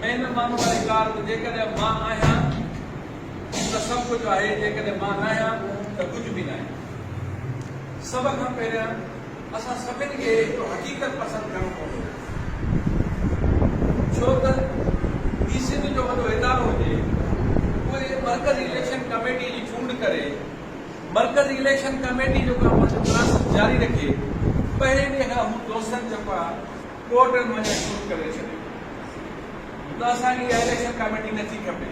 مين ۾ ماڻهو واري ڪار ته جيڪڏهن مان آهيان ته سڀ ڪجهه آهي جيڪڏهن مان ناهيان ته ڪجهه به ناهي. سڀ کان پهريان اسان سڀن کي هڪ حقيقت پسند ڪرڻ پوندو ڇو ته هي سنڌ جو وڏو ادارو هجي اهي مرڪزي اليڪشن ڪميٽي جي چونڊ ڪري مرڪزي اليڪشن ڪميٽي جو ڪم پنهنجو مناسب جاري رکي پهرين ڏينهن کان هو دوستن چپا ٻيو ٽرن وڃڻ شروع ڪري ڇڏيو ته اسان کي اها اليڪشن ڪاميٽي نه ٿي کپي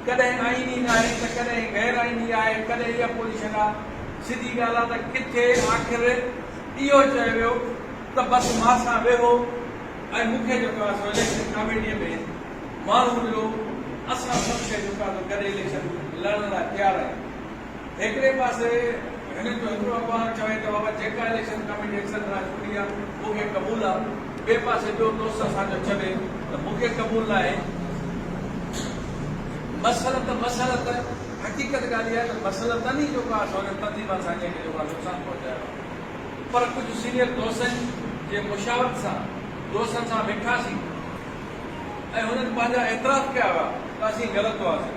ڪڏهن آئيني ناهي ته ڪڏهن غير آئيني آهي ڪڏهن ئي اپوزيشن آهي سڌي ڳالهه آهي ته ڪٿي آخر اهو چيو ويو ته بس مان سان ويهو ۽ مون کي جيڪو آهي سو اليڪشن ڪاميٽي ۾ ماڻهو ملو اسان سڀ شيء جيڪو آهي سو گڏ اليڪشن لڙڻ لاء تيار آهيون هڪڙي پاسي هنن جو هڪڙو اخبار چوي ته بابا جيڪا اليڪشن ڪاميٽي اڪثر راء چونڊي آ مون کي قبول آ ٻئي پاسي ٻيو دوست اسان جو چوي ته مون کي قبول ناهي مصلحت مصلحت حقيقت ڳالهه اها آهي ته مصلحتن ئي جيڪو آ سو هنن تنظيمن سان جنهن کي جيڪو آ نقصان پهچايو آ پر ڪجهه سينيئر دوستن جي مشاورت سان دوستن سان ويٺاسين ۽ هنن پنهنجا اعتراف ڪيا هئا ته اسين غلط هئاسين.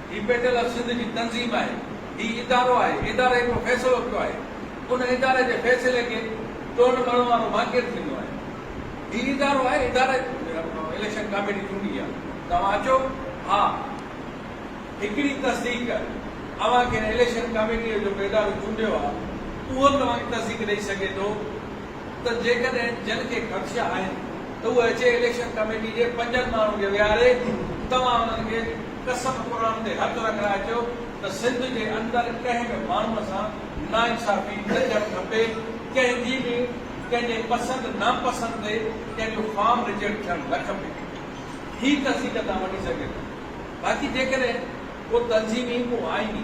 هي بيٽل آف سنڌ جي تنظيم آهي. هي ادارو آهي. اداري هڪڙو فيصلو ڪيو آهي. ان اداري جي فيصلي کي ٽوڙڻ مڙهڻ وارو مان ڪير ٿيندو آهي. هي ادارو آهي. اداري اليڪشن ڪاميٽي چونڊي آهي. توهان اچو. ها هڪڙي تصديق اوهان کي اليڪشن ڪاميٽيء جو ڪو ادارو چونڊيو آهي اهو توهان کي تصديق ڏئي سگهي ٿو. ته جيڪڏهن جن کي خدشا آهن ته اهي اچي اليڪشن ڪميٽي جي پنجن ماڻهن کي ويهاري توهان انهن کي قسم قرآن تي هٿ رکرائي چئو ته سنڌ جي اندر ڪنهن به ماڻهوء سان ناانصافي نه ٿيڻ کپي ڪنهن جي به ڪنهن جي پسند ناپسند تي ڪنهن جو فارم ريجيڪٽ ٿيڻ نه کپي هي تصديق تان وٺي سگهجي ٿي باقي جيڪڏهن ڪو تنظيمي ڪو آئيني.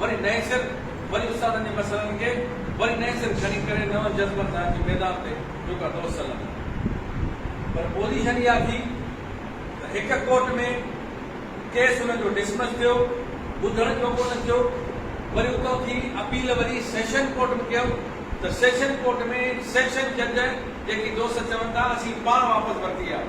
وري نئين سر وري استادن جي مسئلن کي وري نئين سر کڻي ڪري نون جذبن سان اچي ميدان تي جوکا دوست سڏن ٿا پر پوزيشن اها ٿي ته هڪ ڪورٽ ۾ ڪيس ان جو ڊسمس ٿيو ٻڌڻ جو ڪونه ٿيو وري اتان ٿي اپيل وري سيشن ڪورٽ م ڪيم ته سيشن ڪورٽ ۾ سيشن جج جيڪي دوست چون ٿا اسين پاڻ واپس ورتي آهي.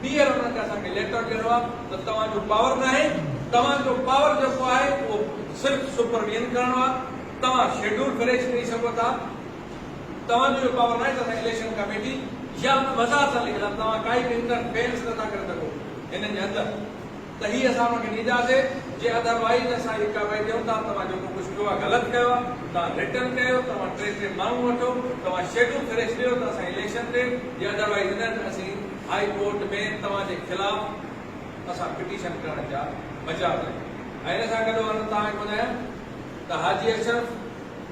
ٻيهر انهن کي اسان کي ليٽر ڏيڻو آهي ته توهان جو پاور ناهي، توهان جو پاور جيڪو آهي اهو صرف سپرويئن ڪرڻو آهي، توهان شيڊول فريش ڪري سگهو ٿا، توهان جو اهو پاور ناهي ته اسان اليڪشن ڪميٽي يا مزار سان لکيل آهي، توهان ڪائي به انٽر فيرنس نٿا ڪري سگهو هنن جي اندر، ته هي اسان اوهان کي ڏينداسين جي اڌروائيز اسان هي ڪارروائي ڏيون ٿا توهان جيڪو ڪجهه ڪيو آهي غلط ڪيو آهي توهان رٽن ڪيو توهان ٽي ٽي ماڻهو وٺو توهان شيڊو ڪري ڇڏيو ته اسان اليڪشن تي جي اڌروائيز نه ته اسين هائي ڪورٽ ۾ توهان جي خلاف اسان پٽيشن ڪرڻ جا مجاز آهيون ۽ ان سان گڏو گڏ توهان کي ٻڌايان ته حاجي اشرف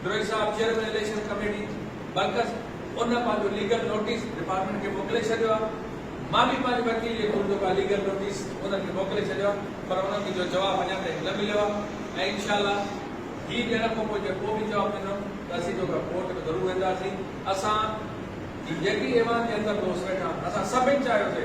ڊوئي صاحب چيئرمين اليڪشن ڪميٽي برڪس ان پنهنجو ليگل نوٽيس ڊپارٽمينٽ کي موڪلي ڇڏيو آهي، مان به پنهنجي وڪيل جي ڪنڊ ڪا ليگل نوٽيس انهن کي موڪلي ڇڏيو آهي پر انهن کي جو جواب اڃا تائين نه مليو آهي ۽ انشاء الله هي ڏيڻ کان پوء جي ڪو به جواب ڏنو ته اسين جو ڪا ڪورٽ ۾ ضرور وينداسين، اسان جي جيڪي ايوان جي اندر دوست ويٺا اسان سڀن چاهيو سي.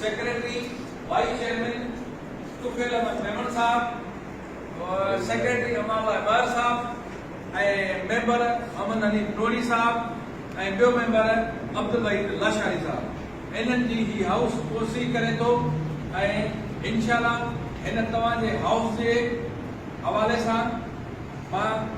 Secretary vice chairman Tufail Ahmed Memon صاحب، سيڪريٽري امان الله ٻاهر صاحب ۽ ميمبر محمد حنيف نوڙي صاحب ۽ ٻيو ميمبر عبدالوحيد لاشاري صاحب هنن جي هي هائوس اوسري ڪري ٿو ۽ انشاء الله هن توهان جي هائوس جي حوالي سان مان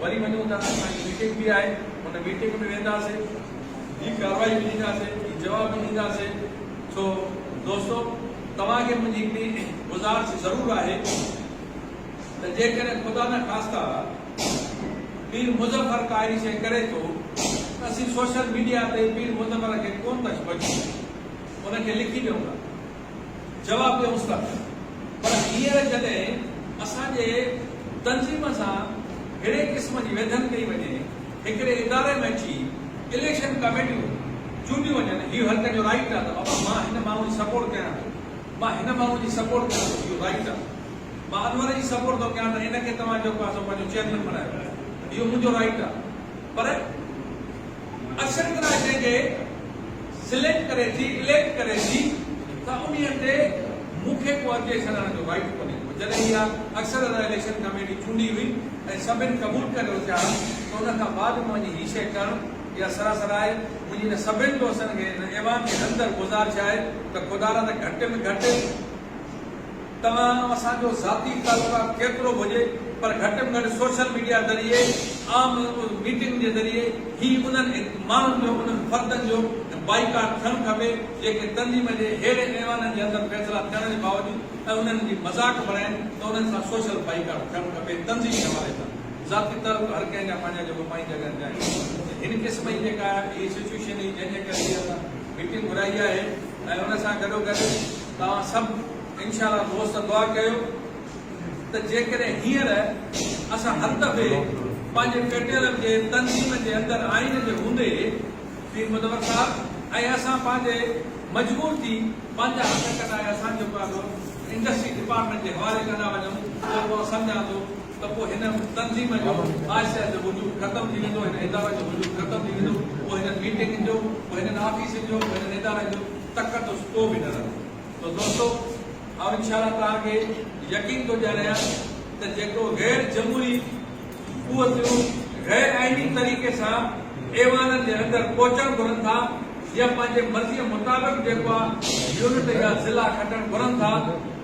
وري وڃون ٿا اسان جي ميٽنگ به آهي ان ميٽنگ ۾ وينداسين جي ڪارروائي به ڏينداسين جي جواب به ڏينداسين سو دوستو توهان کي منهنجي هڪڙي گذارش ضرور آهي ته جيڪڏهن خدا نه خاسته پير مظفر ڪا اهڙي شئي ڪري ٿو ته اسين سوشل ميڊيا تي پير مظفر کي ڪونه ٿا ڇو اچي ان کي لکي ڏيون ٿا جواب ڏيون ٿا پر هينئر جڏهن اسان جي تنظيم سان ههڙي قسم جي ويڌن ڪئي وڃي هڪڙي اداري ۾ اچي اليڪشن ڪاميٽيون چونڊيون وڃن هي هر ڪنهن جو رائيٽ آهي ته بابا مان هن ماڻهو جي سپورٽ ڪيان ٿو مان هن ماڻهو جي سپورٽ ڪيان ٿو اهو رائيٽ آهي مان انور جي سپورٽ ٿو ڪيان ته ان کي توهان جيڪو آهي سو پنهنجو چيئرمين بڻايو اهو منهنجو رائيٽ آهي پر اشر ڪرائي جنهن کي سليڪٽ ڪري ٿي اليڪٽ ڪري ٿي ته انهي تي مون کي ڪو اڳتي سڏائڻ جو رائيٽ ڪونهي ڪو جڏهن اها اڪثر ادا اليڪشن ڪميٽي چونڊي هئي ۽ سڀن قبول ڪري اٿيا ها ته ان کان بعد مان وڃي هي شيء ڪرڻ اها سراسر آهي منهنجي ان سڀن دوستن کي ان ايوان جي اندر گذارش آهي ته خدارا ته گهٽ ۾ گهٽ توهان ۽ اسان جو ذاتي تعلقات ڪيترو به هجي پر گهٽ ۾ گهٽ سوشل ميڊيا ذريعي عام ميٽنگ جي ذريعي هي انهن ماڻهن جو انهن فردن جو بائيڪاٽ ٿيڻ کپي جيڪي تنظيم جي ههڙي ايوانن جي اندر فيصلا ٿيڻ جي باوجود ۽ انهن جي مذاق بڻائين ته انهن سان سوشل بائيڪاٽ ٿيڻ کپي تنظيمي حوالي سان ذاتي تعلق هر ڪنهن جا پنهنجا جيڪو پنهنجي جڳهن تي آهن هن قسم جي جيڪا هي سچوئيشن هئي جنهن جي ڪري هي اسان ميٽنگ گهرائي آهي ۽ ان سان گڏو گڏ توهان سڀ انشاء الله دوست دعا ڪيو ته جيڪڏهن هينئر اسان هر دفعي پنهنجي پيٽيلم جي تنظيم جي اندر آئين جي هوندي پير مدور صاحب ۽ اسان پنهنجي مجبور ٿي پنهنجا هٿ ڪڍائي اسان جيڪو آهي سو انڊسٽري ڊپارٽمينٽ جي حوالي ڪندا وڃون ته پوء سمجهان ٿو ته پوء هن تنظيم جو آهستي آهستي وجود ختم ٿي ويندو هن ادارن جو وجود ختم ٿي ويندو پوء هنن ميٽنگن جو پوء هنن آفيسن جو پوء هنن ادارن جو تقدس ڪو به نه رهندو ته دوستو آئون انشاءالله توهان کي يقين ٿو ڏياريان ته جيڪو غير جمهوري قوتون غير آئيني طريقي سان ايوانن جي اندر پهچڻ گهرن ٿا يا پنهنجي مرضي مطابق جيڪو آ يونٽ يا ضلع کٽڻ گهرن ٿا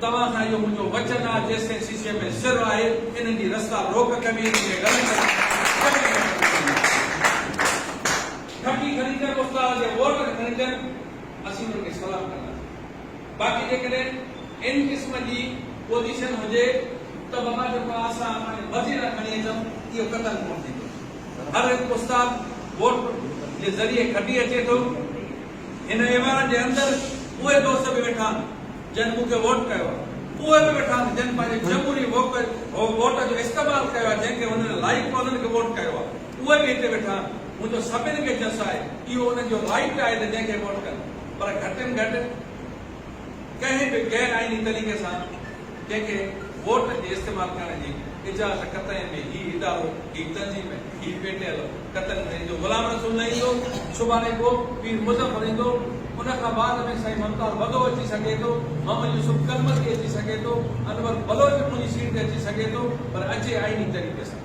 توهان سان اهو منهنجو وچن آ جيستائين شيشي ۾ سر آهي انهن جي رستا روڪ ڪبي انهن کي غلط گهٽي کڻي ڪنهن استاد جي ووٽ نه کڻي ڏين اسين انهن کي سلام ڪنداسين باقي جيڪڏهن ان قسم جي پوزيشن هجي ته بابا جيڪو آ اسان پنهنجي مرضي سان کڻي اچون اهو قطعن ڪونه ٿيندو هر هڪ استاد ووٽ جي ذريعي کٽي اچي ٿو هن ايوان جي اندر اهي دوست به ويٺا آهن جن مون کي ووٽ ڪيو آ اهي به ويٺا آهن جن پنهنجي جمهوري ووٽ جو استعمال ڪيو آ جنهن کي هنن لائق ڪونهن کي ووٽ ڪيو آ. اهي به هتي ويٺا آهن، منهنجو سڀن کي جس آهي، اهو انهن جو رائيٽ آهي ته جنهن کي ووٽ ڪن، پر گهٽين گهٽ ڪنهن به غير آئيني طريقي سان ڪنهن کي ووٽ جي استعمال ڪرڻ جي اجازت قطعي به هي ادارو، هي تنظيم، هي پي ٽي ايل قطعن نه ڏيندو، غلام رسول نه ايندو، سڀاڻي پوء پير مظفر ايندو، ان کان بعد ۾ سائين ممتاز وڌو اچي سگهي ٿو، محمد يوسف ڪلمتي اچي سگهي ٿو، انور بلوچ منهنجي سيٽ تي اچي سگهي ٿو، پر اچي آئيني طريقي سان.